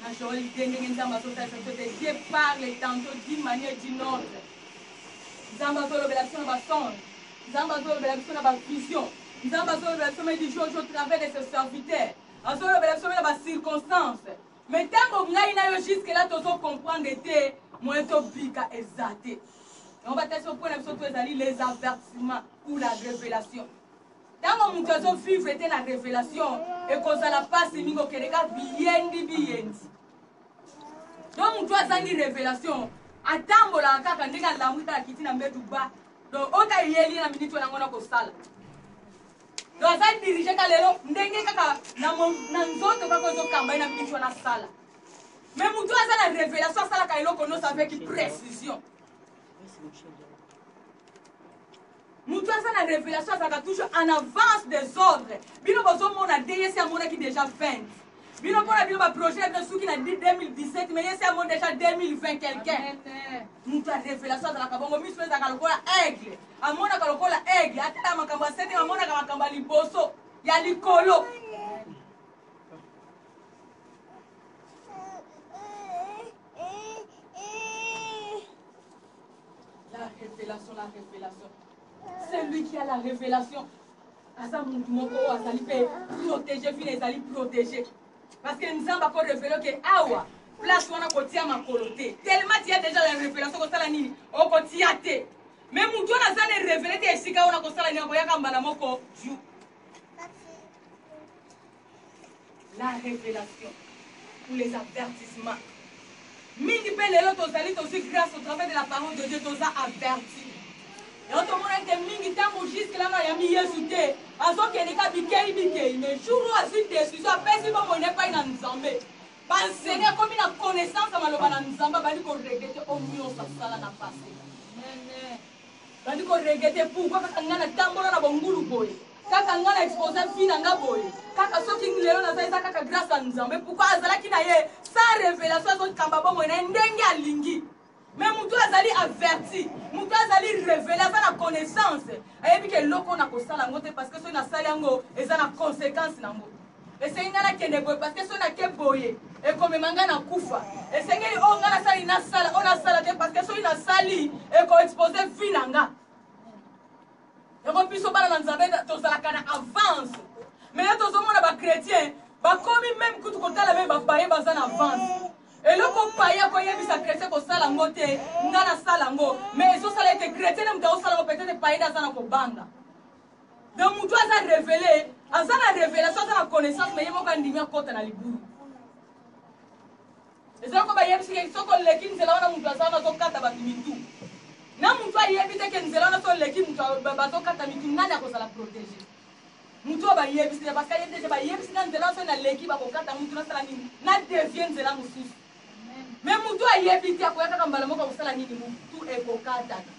Na Joël idee ndenge nzambe azo salisa biso te Dieu parle tantot d'une manière d'une autre nzambe azo lobela biso na ba songe nzambe azo lobela biso na ba vision nzambe azo lobela biso me di jojo au travers de ce serviteur azo lobela biso me na ba circonstance me tango ngai na yo jusque là tozo comprendre te moyen to bika eza te yango batasi opo na biso to ezali les avertissements ou la revelation Tango mutu azo vivre te na revelation ekozala pasi mingi okende ka biyendi biyendi. Donc mutu azangi revelation atambolaka kaka ndenge alamwi kaka kiti na mbetu ba donc oyo ka eyeli na minute wana ngo na kosala donc aza dirige ka lelo ndenge kaka na nzoto kaka ozokamba ye na minute wana asala mais mutu aza na revelation asalaka eloko nyonso avec précision Mutu aza na revelation azalaka toujours en avance des ordres. Bino bozo mona te yesi amonaki deja 20. Bino pona bino ba projet bino suki na 2017 mais yesi amoni deja 2020 quelqu'un. Mutu ya revelation azalaka bongo miso ezalaka lokola aigle. Amonaka lokola aigle atala makambo ya sete amonaka makambo ya liboso ya likolo. La revelation, la revelation. Celui qui a la revelation, aza mutu moko oyo azali mpe protege, vina ezali protege. Parce que Nzambe ako revele ke awa place wana kotia makolo te. Tellement tia deja la revelation kosala nini? Okotia te. Mais mutu wana aza ne revele te esika wana kosala nini? Akoyaka mbala moko juu. La revelation ou les avertissements mingi pe lelo tozali tozui grace au travers de la parole de Dieu toza averti yango tomona ete mingi tango jusque là bayambi Yesu te azokende ka bikei bikei mais jour oyo azui decision apesi bomoi na epai na Nzambe banseni akomi na connaissance ya maloba na Nzambe abandi koregrete oyo nyonso asala na pase bandi koregrete pourkoi kaka ngai natambola na bongulu boye Kaka nga na expose vie na nga boye kaka soki lelo naza eza kaka grace ya nzambe pourquoi azalaki na ye sans revelation azokamba bomoi na ye ndenge alingi me motu azali averti motu azali revele aza na connaissance ayebi ke eloko na kosala yango te parce que soki nasali yango eza na conséquence na yango esengi ngai nakende boye parce que soki nake boye ekomema ngai na kufa esengeli oyo ngai nasali nasala oyo nasala te parce que soki nasali ekoexpose vie na ngai Yango biso bana na Nzambe tozalaka na avance. Mais là tozomona ba chrétiens bakomi meme kutu kotala meme ba paye baza na avance. eloko paye akoyebisa chrétien kosala yango te nga nasala yango mais ezosala ete chrétien nde moto akosala yango peut-être paye nde aza na kobanga donc motu aza revele aza na revelation aza na connaissance mais ye moko andimi akota na libulu Ezali ko bayebisi ke soki oleki nzela wana mutu aza wana azo kata batu mitu na mutu ayebi te ke nzela wana soki oleki mutu bazo kata mitu nani akozala protege mutu oyo bayebisi te parce que ayebi te ke bayebisi nga nzela wana soki naleki bako kata mutu nasala nini na devie nzela mususu mais mutu ayebi te akoya kaka mbala moko akosala nini mutu ekokatana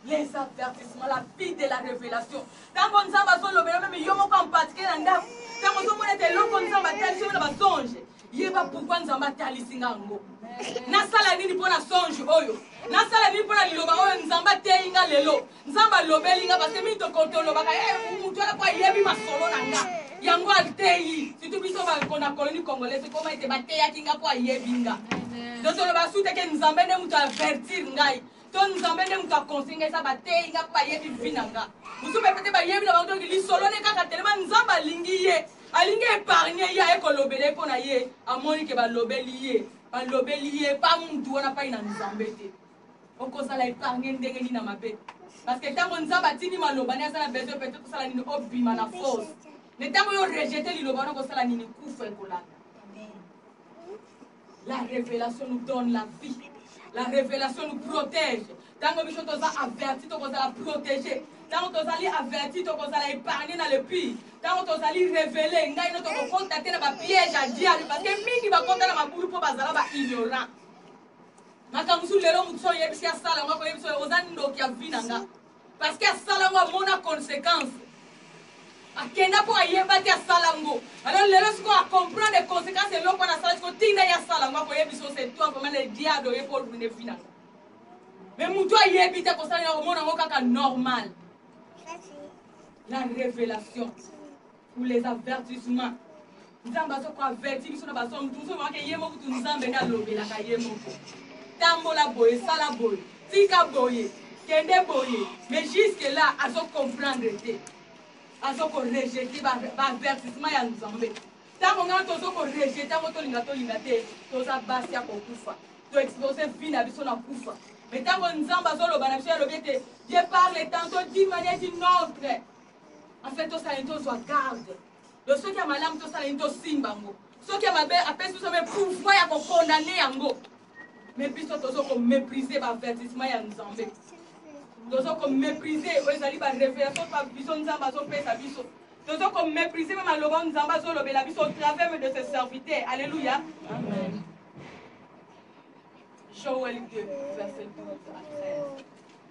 Les avertissements, la vie de la revelation. Tango Nzambe azo lobela meme yo moko en particulier na ndako. Tango ozo mona te eloko Nzambe atalisi yo na ba songe. Yeba pourquoi Nzambe atalisi nga ngo. Nasala nini mpo na songe oyo? Nasala nini mpo na liloba oyo Nzambe ateyi nga lelo? Nzambe alobeli nga parce que mingi tolobaka eh mutu wana mpo ayebi masolo na nga. Yango ateyi. Surtout biso ba kona koloni congolaise koma ete bateyaki nga mpo ayebi nga. Donc tolobaka sute ke Nzambe nde mutu avertir ngai. to nzambe nde moto aconseille nga eza bateyi nga mpe bayebi vi na nga mosusu mpe pete bayebi na bango toki lisolo ne kaka telema nzambe alingi ye alingi epargne ye aye kolobela ye mpo na ye amoni ke balobeli ye balobeli ye pa mutu wana pai na nzambe te okozala epargne ndenge nini na mabe parceke ntango nzambe atindi maloba ne aza na besoin pete kosala nini obima na force me ntango yo rejete liloba wana okosala nini kufa ekolanda La revelation nous donne la vie. La revelation nous protège. Tango biso toza averti tokozala protégé. Tango tozali averti tokozala épargné na le pire. Tango tozali révélé ngai no tokokota te na ba piège ya diable parce que mingi bakota na mabulu mpo bazala ba ignorant. Makambo mosusu lelo moto so oyebisi asala yango akoyebisa oyo oza ndoki ya vi na nga. parce que asala ngo amona consequence akenda mpo ayeba te asala ngo alors lelo sikoyo acomprendre consequence eloko wana asala sikoyo tinda ye asala ngo akoyebi so c'est toi vraiment le diable oye mpo olune vi nanga mais motu ayebi te kosalela komona ngo kaka normal la révélation pour les avertissements nzambe azo ko averti biso na basomo tozo maka ye moko tu nzambe nde alobelaka ye moko tambola boye sala boye tika boye kende boye mais jusque là azo comprendre te azo ko rejete baavertissement ya nzambe ntango ngai tozo ko rejete yango tolinga tolinga te toza basi ya kokufa to expose vie na biso na kufa mais ntango nzambe azoloba na biso yalobi ete je parle tantôt d'une manière d'une autre en fait tosala nini tozwa garde donc soki ya malamu tosala nini tosimba yango soki ya mabe apesi biso me pouvoir ya kokondane yango me biso tozo komeprise baavertissement ya nzambe tozo komeprise oyo ezali barevelation pa biso nzambe azopesa biso tozo komeprise mpe maloba oyo nzambe azolobela biso au travers de ses serviteurs alleluya joel 2 verset 12 à 13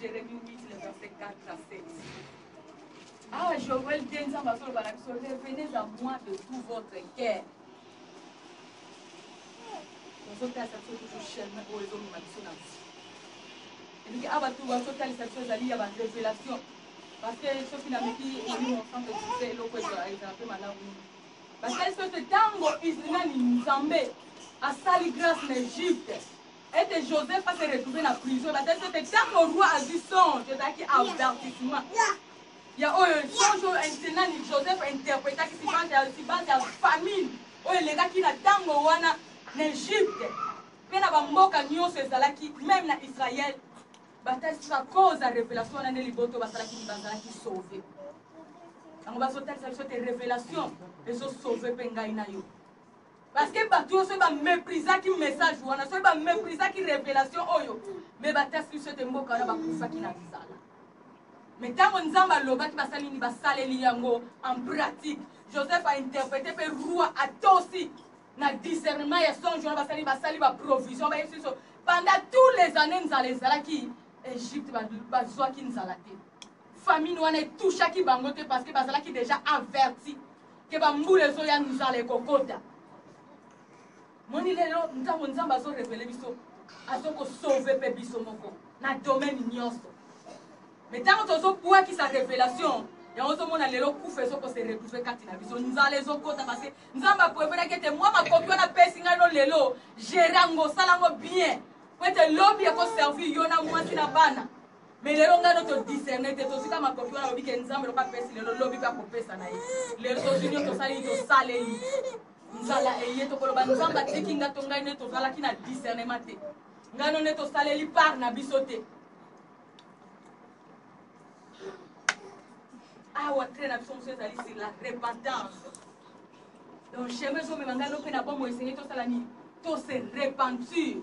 Jeremie 8, le verset 4 à 7. Ah, Joël te nzambe azoloba na biso revenez à moi de tout votre cœur ozotalisa biso kutu chemin oyo ezomema biso na biso elingi awa bato bazotalisa biso ezali ya barevelation parce que soki nameki elimo santo sise eloko ezala mpe malamu mingi batalisi biso ete ntango nani nzambe asali grâce na egypte ete Joseph a se retrouver na prison ebatalisi ete tango roi azwi songe ezalaki avertissement ya oyo songe oyo nani Joseph interpretaki sibante ya sibante ya famine oyo elekaki na tango wana na Egypte mpe na bamboka nyonso ezalaki meme na Israël batalisi ba cause ya revelation wana nde liboto basalaki nini bazalaki sauve yango bazotalisa biso te revelation ezosauve mpe ngai na yo Parce que batu yo soki ba meprisaki message wana soki ba meprisaki revelation oyo mais batasi biso ete mboka wana bakufaki na nzala mais ntango nzambe alobaki basali nini basaleli yango en pratique joseph ainterprete mpe roi atosi na discernement ya songe wana basali basali baprovision bayebisi biso pendant tous les années nzala ezalaki egypte bazwaki nzala te famine wana etouchaki bango te parce que bazalaki déjà averti ke ba mbula ezoya nzala ekokota moni lelo ntango nzambe azo revele biso azo kosauve mpe biso moko na domaine nyonso me ntango tozobwakisa revelation yango ozomona lelo kufa ezokose retrouve kati na biso nzala ezokota parce nzambe aprevenaki ete mwa makoki wana apesi ngai no lelo gere yango osala yango bien po ete lobi ekoservir yo na mwasi na bana Mais lelo nga no to discerner te tozwi ka makoki wana alobi ke nzambe loka pesi lelo lobi pe akopesa na ye lelo tozwi nio tosali tosaleli nzala eye tokoloba nzambe atiki nga to ngai nde tozalaki na discernement te ngai no nde tosaleli part na biso te awa trai na biso mosusu ezali sur la repentance donc chemin ezomema ngai no mpe na bomoi esengeli tosala nini tose repentir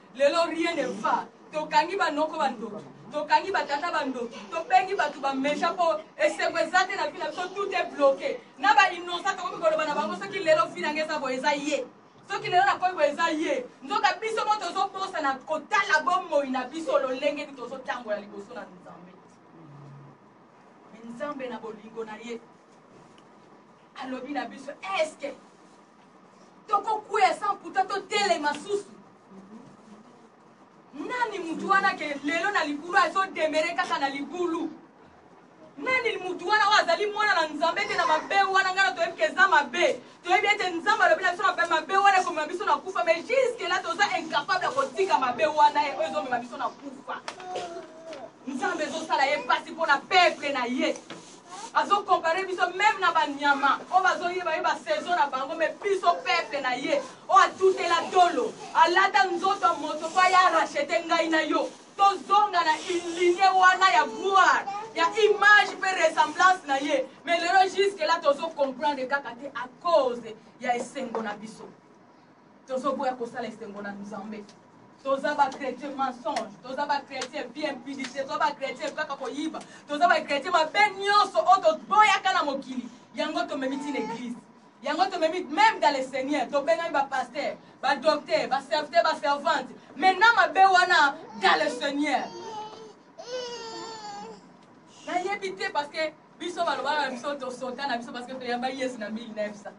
Lelo rien ne va tokangi ba noko ba ndoki tokangi ba tata ba ndoki tobengi batu ba meja po esengo eza te na vie na biso tout est bloque na ba innocent tokomi koloba na bango soki lelo vie na nga eza boye eza ye soki lelo na komi boye eza ye nzoka biso mo tozo bosa na kotala bo moyi na biso lolenge ni tozo tangola liboso na nzambe nzambe na bolingo na ye alobi na biso eske tokokwea sans pourtant totelema susu nani mutu wana ke lelo na libulu azodemere kaka na libulu nani mutu wana oyo azali mwana na nzambe te na mabe wana ngai na toyebi ke eza mabe toyebi ete nzambe alobi na biso na mabe wana ekomema biso na kufa mais juske la toza incapable ya kotika mabe wana oyo ezomema biso na kufa nzambe ezosala ye mpasi mpo na peuple na ye azo compare biso meme na ba nyama oyo bazo yeba ye ba saison na bango mais biso peuple na ye oyo atutela tolo alata nzoto ya moto po aya rachete ngai na yo tozonga na ligne wana ya gloire ya image pe ressemblance na ye mais lelo jusque là tozo comprendre kaka te à cause ya esengo na biso tozo boya kosala esengo na nzambe toza ba chrétien mensonge toza ba chrétien vie impudicité toza ba chrétien kaka koyiba toza ba chrétien mabe nyonso oyo toboyaka na mokili yango tomemi ti na église yango tomemi même dans le seigneur tobengami bapaster badocteur baserviteur baservante maintenant mabe wana dans le seigneur nayebi te parce que biso balobaka na biso tosota na biso parce que toyamba yesu na 1900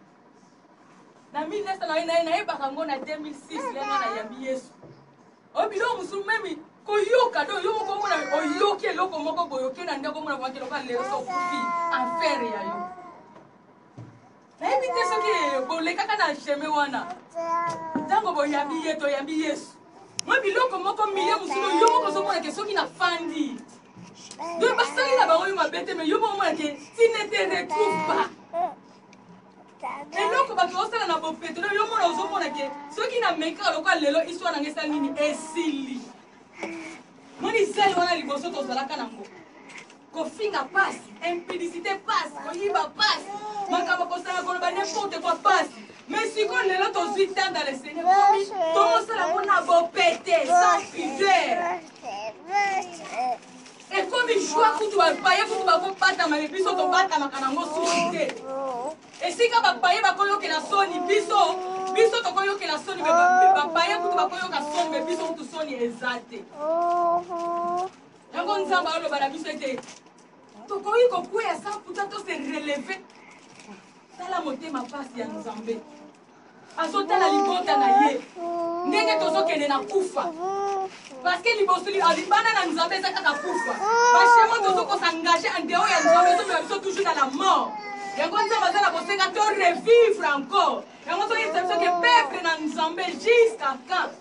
na 1900 nayebaka yango na 2006 le nga nayambi yesu oyo biloko mosusu meme koyoka do yo moko omona oyoki eloko moko boyoki na ndako omona vaki eloka lelo sokufi affaire ya yo nayebi te soki bolekaka na chemin wana ntango boyambi ye toyambi yesu mwa biloko moko miye mosusu yo moko ozomona ke soki nafandi donc basali na bango yo mabe te me yo moko omona ke tinete retrouve pas eloko bato osala na bopeto na yo mona ozomona ke soki na meki kaka lokola lelo histoire na nga esali nini esili moni zele wana liboso tozalaka nango kofinga pasi impudicité pasi koyiba pasi makambo kosala koloba n'importe quoi pasi mais sikoyo lelo tozwi temps dans le seigneur omi tokosala yango na bopete sans pudeur Ekomi joie kutu ba paye kutu bako batama mais biso to batamaka na ngo sushi te. Esika ba paye bako yokela soni biso biso toko yokela soni mais ba paye kutu bako yoka soni mais biso kutu soni eza te. Yango Nzambe aloba na biso ete tokoki kokwea sans kuta to se relever. Tala motema pasi ya Nzambe. azotala libota na ye ndenge tozokende na kufa parceke liboso libanda na nzambe eza kaka kufa bashemo tozokosangaje andeo ya nzambe ezomela biso toujours na la mort yango nzambe aza na bosenga to revivre encore yango soki esabiso ke peuple na nzambe jusqu'à quand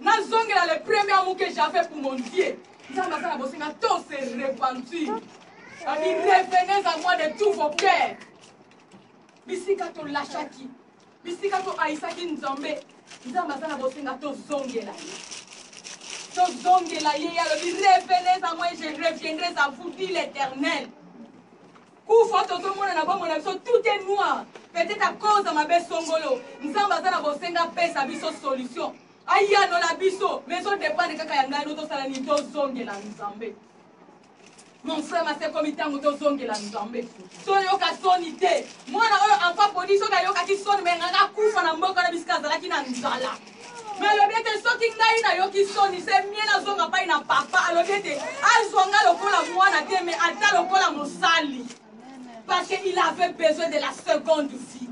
Nazongela le premier amour que j'avais pour mon Dieu. Nzambe asala bosenga to se repentir. Ami revenez à moi de tous vos cœurs. Bisika to lachaki. Bisika to aisaki Nzambe. Nzambe asala bosenga to zongela. To zongela ye alobi revenez à moi je reviendrai à vous dit l'Éternel. kufa tozo mona na bomoi na biso tout est noir peut-être à cause ya mabe songolo nzambe aza na bosenga apesa biso solution ayanola biso mais ezo dependre kaka ya ngai no tosala nini tozongela nzambe mon frère masekomi ntango tozongela nzambe toyoka soni te mwana oyo ampapodi soki ayokaki soni me nganga akufa na mboka na bisika azalaki na nzala me alobi ete soki ngai nayoki soni se mie nazonga pai na papa alobi ete azwa ngai lokola mwana te me ata lokola mosali parce que il avait besoin de la seconde vie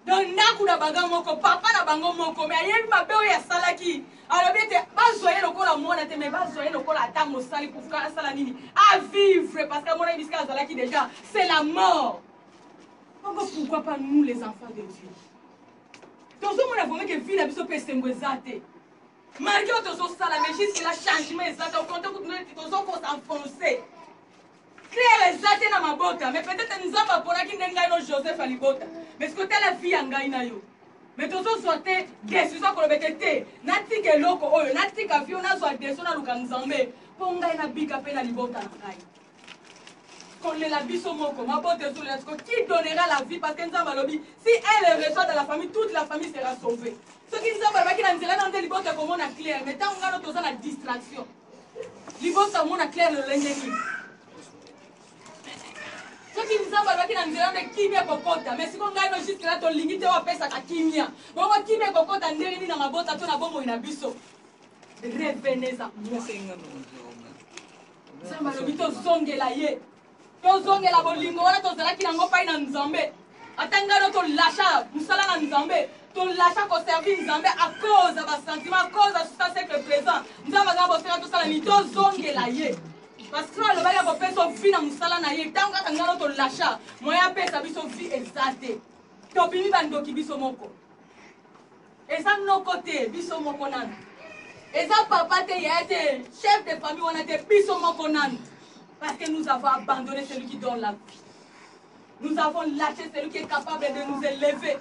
donc ndako na banga moko papa na bango moko me ayebi mabe oyo asalaki alobi ete bazwa ye lokola mwana te me bazwa ye lokola ata mosali pourka asala nini avivre parce que amonaki bisika azalaki déjà c'est la mort pourquoi pas nous les enfants de dieu tozomona vraiment ke vie na biso mpe esengo eza te malgré oyo tozosala mais jusque la changement eza te okonte kutu neti tozokosa en français claire eza te na mabota mais peut-être nzambe aponaki nde ngai no joseph alibota mais soki otala vie ya ngai na yo mais tozozwa te decision ya koloba ete te natika eloko oyo natika vie oyo nazwa decision naluka nzambe mpo ngai nabika mpe na libota na ngai kolela biso moko mabota ezolela siko qui donnera la vie parce que nzambe alobi si elle est reçoit dans la famille toute la famille sera sauvée soki nzambe alobaki na nzela na nde libota ekomona claire mais ntango ngano toza na distraction libota omona claire lolenge nini soki nzambe alobaki na nzela nde kimia ekokota mais siko ngai no juske la tolingi te wapesaka kimia bongo kimia ekokota ndenge nini na mabota to na bomoi na biso revenez à moi nzambe alobi tozongela ye tozongela bolingo wana tozalaki nango mpai na nzambe ata ngai no tolasha mosala na nzambe tolasha koservir nzambe akoza basentiment akoza susa sekle présent nzambe aza bosenga tosala nini tozongela ye parce que alobaki akopesa vi na mosala na ye ntango kaka ngai no tolasha moye apesa biso vi eza te tobimi bandoki biso moko Eza noko te biso moko nanu. Eza papa te yaya te chef de famille wana te biso moko nanu. Parce que nous avons abandonne celui qui donne la vie. Nous avons lache celui qui est capable de nous elever.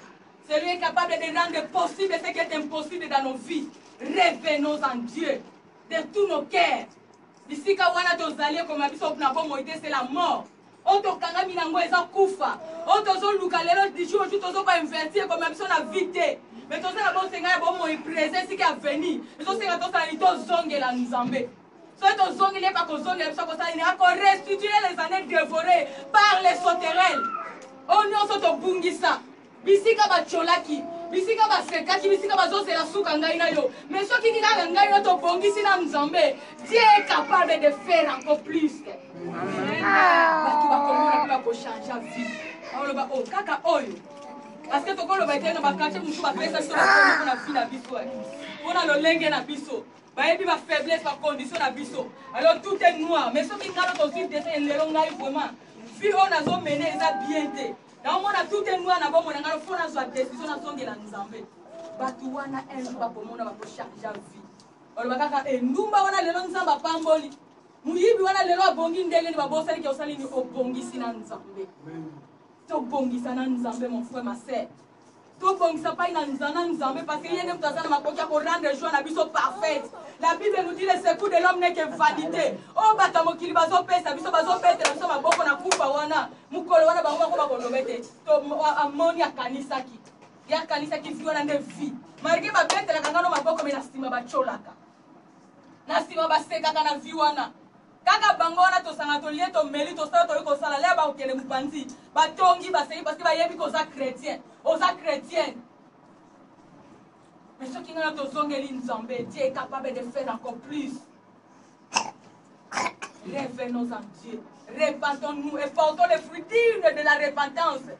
Celui est capable de rendre possible ce qui est impossible dans nos vies. Revenons en Dieu de tous nos cœurs. Bisika wana tozali ekoma biso na bomoi te c'est la mort. oyo tokangami na yango eza kufa oyo tozoluka lelo du jour au jour tozo ko inverti ekomema biso na vie te me toza na bosenga ya bomoi prese esika ya veni ezosenga tosala nini tozongela nzambe soki tozongeli ye bakozongela biso akosala nini akorestitue les années dévorées par les sauterelles oyo nyonso tobungisa Bisika ba tsholaki, bisika ba sekaki, bisika bazo zela suka ngai na yo. Mais soki ki kaka ngai yo to bongisi na Nzambe, Dieu est capable de faire encore plus. Batu ba komona pe ba ko changer vie. Ba loba oh kaka oyo. Parce que toko loba ete na ba quartier musu ba pesa biso ba komi pona vie na biso. Pona lolenge na biso. bayebi ba faiblesse ba condition na biso alors tout est noir mais soki ngai tozwi dese lelo ngai vraiment vie oyo nazomene eza bien te Nao mona tout est noir na bomona ngai faut nazwa decision nazongela Nzambe. Batu wana un jour bakomona bako charge ya vie. Baloba kaka eh, ndumba wana lelo Nzambe apamboli. Muyibi wana lelo abongi ndenge ni babosani ke osali ni obongisi na Nzambe. Tobongisa na Nzambe mon frère ma sœur. Tobongisa epai na Nzana Nzambe parce que ye nde moto aza na makoki ya ko rendre joie na biso parfaite. La Bible nous dit le secours de l'homme n'est que vanite. Oyo bato ya mokili bazopesa biso, bazobetela biso maboko na kufa wana, mokolo wana bango moko bakoloba ete to amoni akanisaki. Ye akanisaki vie wana nde vie. Malgré babetelaka ngano maboko mais na nsima batyolaka. Na nsima basekaka na vie wana. Kaka bango wana tosanga tolie tomeli tosala toyi kosala lea bakokende mupanzi batongi baseki parce que bayebi ko oza chretien oza chretienne mais soki ngana tozongeli nzambe dieu est capable de faire encore plus revenons en dieu repentons nous et portons les fruits dignes de la repentance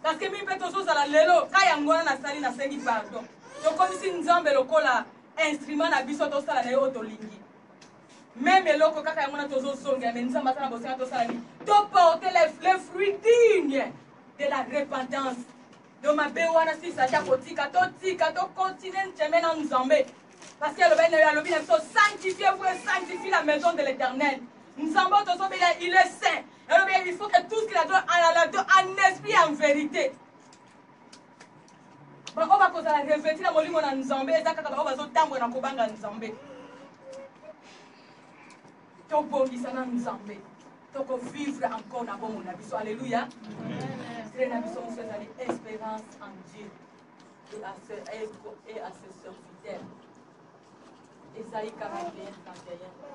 parce que mimi mpe tozozala lelo ka yango wana nasali nasengi pardon tokomisi nzambe lokola instrument na biso tosala na ye oyo tolingi meme eloko kaka yango na tozozongela me nzambe aza na bosenga tosala nini toporte le fruit digne de la repentance do mabe wana sisi ata kotika totika tokontinue nceme na nzambe parce que alobi nayo alobi na biso sanctifie vous et sanctifie la maison de l'éternel nzambe oyo tozobela il est saint alobi il faut que tout ce qu'il a doit en esprit en vérité baoyo bakozala reveti na molimo na nzambe eza kaka baoyo bazotambola na kobanga nzambe tobongisa na nzambe tokovivre encore na bomo na biso alleluya nzela na biso mosu ezali espérance en dieu et à ce, et à ce serviteur ezali 41 31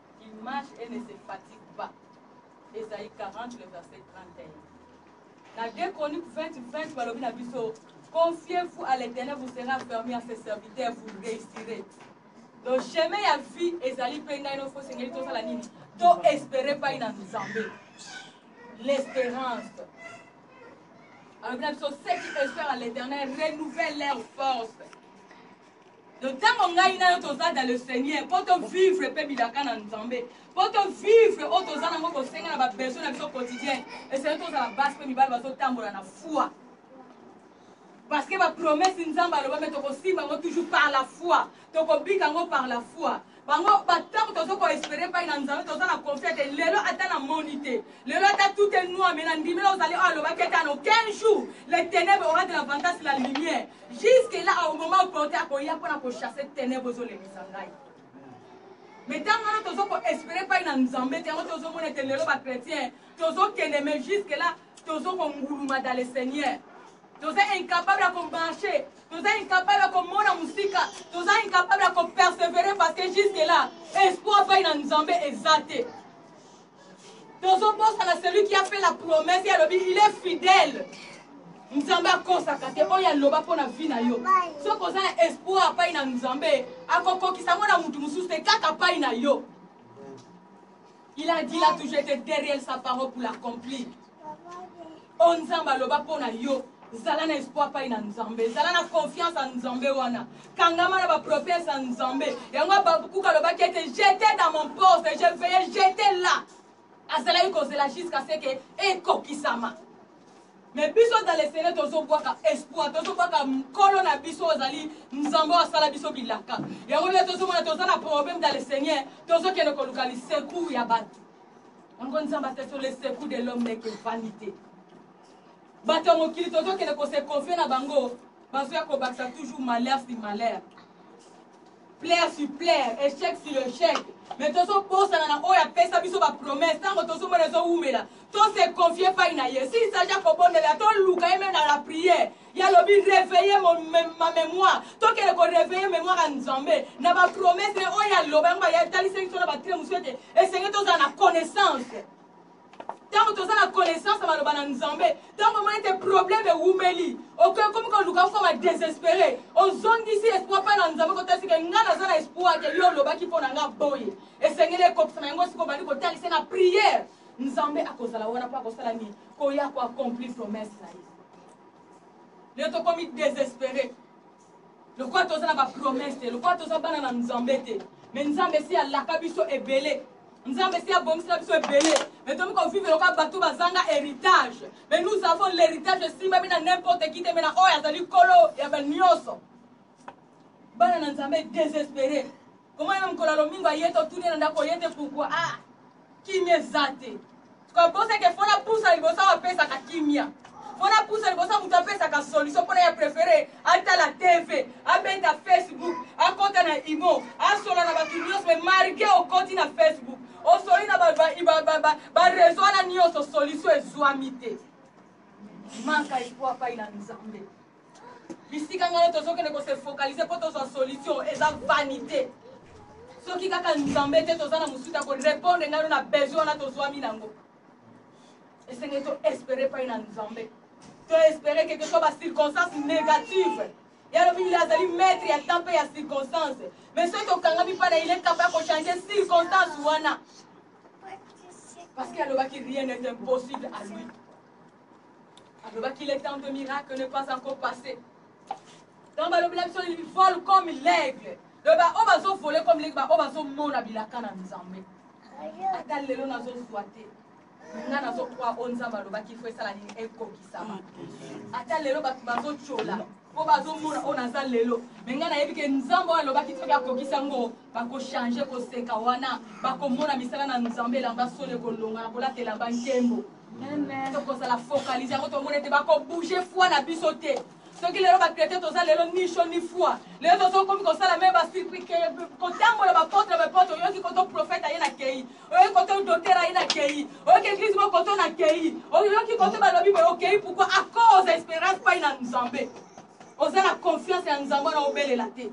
Il marche et ne se fatigue pas, Esaïe 40 le verset 31. Na 2 Chroniques 20 20 balobi na biso confiez-vous à l'Éternel, vous serez affermi à ses serviteurs, vous réussirez. Donc chemin ya vie ezali mpe ngai nofo esengeli tosala nini to espere pai na nzambe l'espérance alobi na biso ceux qui espèrent à l'éternel renouvelle leur force Donc tango ngai na yo toza dans le Seigneur po to vivre pe bilaka na Nzambe po to vivre oyo toza nango bosenga na ba besoin na biso quotidien esengeli tozala basi pe mibali bazotambola na foi parce que ba promesse Nzambe aloba me tokosimba yango toujours par la foi tokobika yango par la foi bango batango tozo ko espere epai na nzambe toza na confia te lelo ata na moni te lelo ata tout est noir mais na ndimela ozali oyo alobaki ete ano 15 jours le ténèbre aura de l'avantage sur la lumière jusque là au moment opporte akoya mpo na kochasse ténèbre ozolemisa ngai mais ntango wana tozo ko espere epai na nzambe te yango tozomona ete lelo bachrétien tozokende mais jusque là tozo konguluma dans le seigneur Toza incapable ya ko marcher, toza incapable ya komona musika, toza incapable ya ko perseverer parce que jusque là espoir epai na Nzambe eza te. tozobosana celui qui a fait la promesse ye alobi il est fidèle nzambe akosaka te oyo aloba mpo na vi na yo soki oza na espoir apai na nzambe akokokisa yango na moto mosusu te kaka apai na yo Il a dit là tout j'étais derrière sa parole pour l'accomplir. O Nzambe aloba mpo na yo zala na espoir pai na nzambe zala na confiance ya nzambe wana kangama na baprofese ya nzambe yango abakuka alobaki ete jete dans mon poste je veye jete là azalaki kozela jusqu'à ce que ekokisama Mais biso dans les sele tozo bwaka espoir, tozo bwaka nkolo na biso ozali Nzambe oyo asala biso bilaka. Yango nde tozo mona toza na problème dans le Seigneur, tozo kende koluka li secours ya batu. Yango Nzambe ate sur le secours de l'homme n'est que vanité. Bato ya mokili tozo kende ko se confier na bango, bazo ya kobakisa toujours malheur si malheur. plaire sur plaire echec sur echec mais tozobosana na oyo apesa biso bapromesse ntango tozomona ezowumela tose confie pai na ye s'il s'agit ya kobondela toluka ye meme na la prière ye alobi réveille ma mémoire tokende koreveille mémoire ya nzambe na bapromesse oyo aloba yango batalisi biso na batele mosusu ete esenge tozala na connaissance ntango toza na connaissance ya maloba na nzambe ntango omoni ete problème ewumeli okomi koluka okoma désespéré ozongisi espoir mpa na nzambe kotalisi ke ngai naza na espoir ke yo olobaki mpo na ngai boye esengeli ekokisama yango siko obandi kotalisa na prière nzambe akozala wana mpo akosala nini koya koaccompli promesse na ye leo tokomi désespéré lokola toza na ba promesse te lokola toza bana na nzambe te mais nzambe esi alaka biso ebele nzambe esi abongisela biso ebele mais tomi kovivre lokola bato bazanga héritage mais nous avons l'héritage esimbami na n'importe qui te mais na oyo azali kolo ya banyonso bana na nzambe désespéré komona meme kola lomingo aye totuni na ndako oye te pourkui ah kimia eza te Kokosa ke fona pusa liboso apesaka kimia fona pusa liboso moto apesaka solution mpona ya prefere atala tv abeta facebook akota na imo asola na bato nyonso me marge okoti na facebook osoli na barezo wana nyonso solution ezwami te manka ikuapai na nzambe Bisika ngana tozo kende ko se focaliser po tozwa solution eza vanite. Soki kaka Nzambe te toza na mususu ako repondre ngano na besoin wana tozwami nango. Esengeli to espere pai na Nzambe. To espere que que soit ba circonstances negatives ya lobi bile azali maître ya temps mpe ya circonstance mais soki tokangami mpa na ile kapa ya kochange circonstance wana parce que alobaki rien n'est impossible à lui alobaki le temps de miracle ne pas encore passé donc balobela biso il vole comme l'aigle donc baoyo bazovole comme l'aigle baoyo bazomona bilaka na nzambe ata lelo nazozwa te nga nazokwa oyo nzambe alobaki fo esala nini ekokisama ata lelo bato bazotyola mpo bazomona oyo naza lelo me ngai nayebi ke nzambe oyo alobaki soki akokisa ngo Bako changer koseka wana bako mona misala na nzambe elamba solo ekolonga na kolata elamba nkembo tokozala focalise yango tomona ete bako bouger foi na biso te soki lelo bacrete toza lelo ni cho ni foi lelo tozokomi kosala me basirpike kotambola bapotre bapotre oyoki koto profete aye na kei oyoki koto doter aye na kei oyoki eglise moko koto na kei oyoki koto balobi boye okei pourkoi a cause esperance pai na nzambe oza na confiance ya nzambe wana obelela te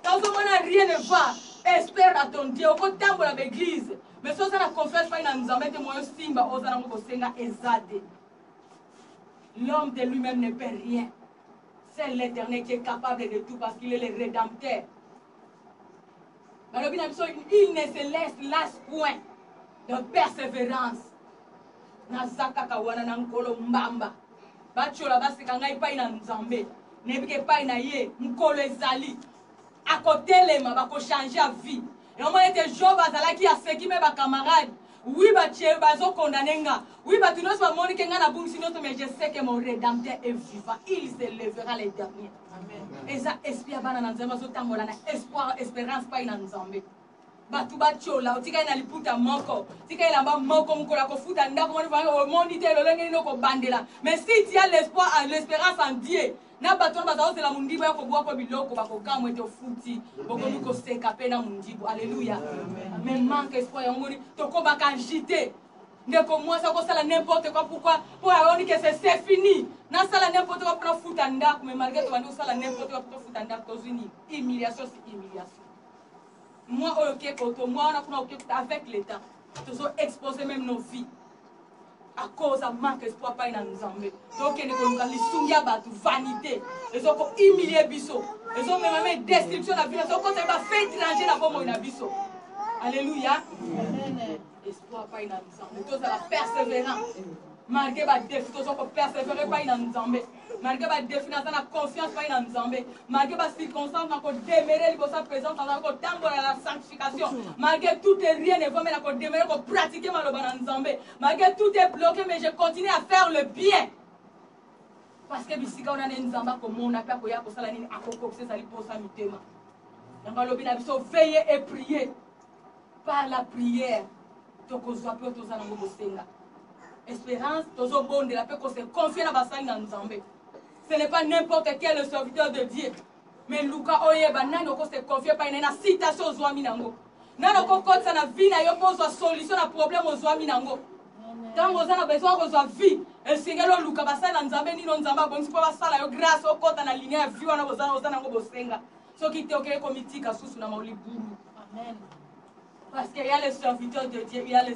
Tozo mona rien ne va. Espère à ton Dieu oko tambola ba eglise. Mais so oza na confiance fai na Nzambe te moyo simba oza nango ko senga eza te. L'homme de lui-même ne peut rien. Seul l'Éternel qui est capable de tout parce qu'il est le Rédempteur. balobi na biso il ne se laisse las point de persévérance naza kaka wana na nkolo mbamba batyola baseka ngai epai na nzambe nayebi ke epai na ye mokolo ezali akotelema bakochange ya vie eomona ete job azalaki aseki me bacamarade wi batye bazokondane nga wi bato nyonso bamoni ke ngai nabungisi nyonso mais je sais que mon redempteur est vivant il se levera le dernier eza esprit ya bana na nzambe bazotambola na espoir esperance pai na nzambe batu batiola otikali na liputa moko tika elamba moko mokolo akofuta ndako moni vanga omoni te lolenge nini okobandela mais si tu as l'espoir à l'espérance en Dieu na bato wana baza kozela mondibu ya kobwa ko biloko bakokamwa ete ofuti bokomi koseka mpe na mondibu alleluya mais manque espoir yango moni tokobaka agite ndeko mwasi akosala n'importe quoi pourquoi mpo ayoni ke se se fini nasala n'importe quoi mpo nafuta ndako mais malgré tobandi kosala n'importe quoi mpo tofuta ndako tozwi nini humiliation si humiliation Moi oyo ke poto moi wana kuna oke kuta avec l'etat tozo exposer même nos vies à cause ya manque espoir pai na nzambe tokende koluka lisungi ya bato vanité ezoko humilie biso ezomema me destruction na bino ezokota ba fait étranger na bomoi na biso alleluya Amen. espoir epai na nzambe tozala perseverant malgré badefi toza kopersévere epai na nzambe malgré badefi naza na confiance epai na nzambe malgré bacirconstance na kodemere liboso ya présence naza kotambola na sanctification malgré tout et rien ne vome na kodemere kopratike maloba na nzambe malgré tout est bloqué mais je continue à faire le bien parce que bisika wana nde nzambe akomona mpe akoya kosala nini akokokisa ezali mposa mitema yango alobi na biso veye et prier par la prière tokozwa pe toza nango bosenga esperance tozobondela pe kose confie na basali na nzambe ce n'est pas n'importe quel le serviteur de dieu mais luka oyeba nani okose confie epai na ye na citation ozwami nango nani okokotisa na vie na yo mpo ozwa solution na problème ozwami nango ntango oza na besoin kozwa vie esengeli oluka basali na nzambe nino nzambe abongisi mpo basala yo grâce okɔta na linia ya vie wana oza nango bosenga soki te okei komitika susu na maulibulu amen parce que ya le serviteur de dieu ya le